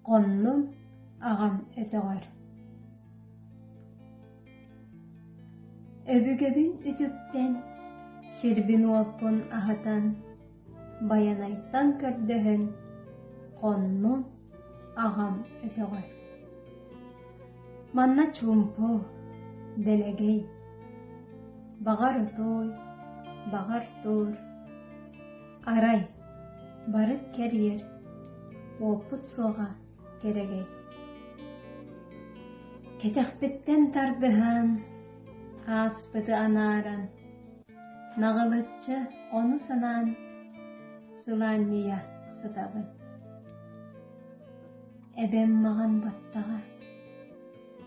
Хоннум аҕам өтөҕөр Өбүгэбин үтүктэн, сирбин-уоппун аһатан, Байанайтан көрдөһөн, хоннум аҕам өтөҕөр. Манна чуумпу, дэлэгэй, баҕар отуой, баҕар туур, Арай, бары кэрийэр, уоппут суоҕа кэрэгэй. Кэтэхпиттэн тардыһан, ааспыты анааран, наҕылычча ону санаан, сылаанньыйа сытабын. Эбэм маҕан баттаҕа,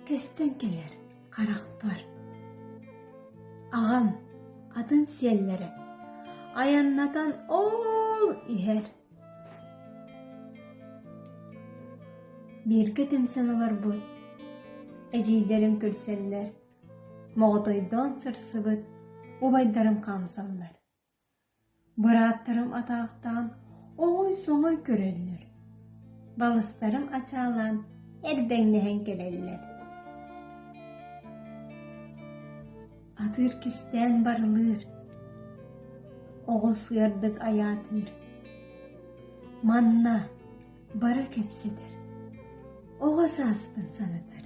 кэстэн кэлэр. харахпар аҕам атын сиэллэрэ айаннатан ол иһэр бииргэ түмсэн олорбут эдьиийдэрим күлсэллэр моҕотойдоон сырсыбыт убайдарын хаамсаллар Бырааттарым атаахтаан оҥой-соҥой көрөллөр, балыстарым ачаалаан эрдэҥнэһэн кэлэллэр Атыыр кистээн барылыыр, оҕус ыардык айаатыыр. Манна бары кэпсэтэр, оҕо сааспын санатар.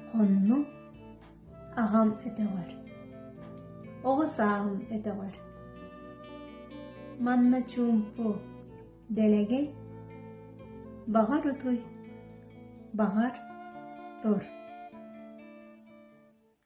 Хонну Аҕам өтөҕөр Оҕо сааһым өтөҕөр Манна чуумпу, дэлэгэй Баҕар утуй, баҕар тур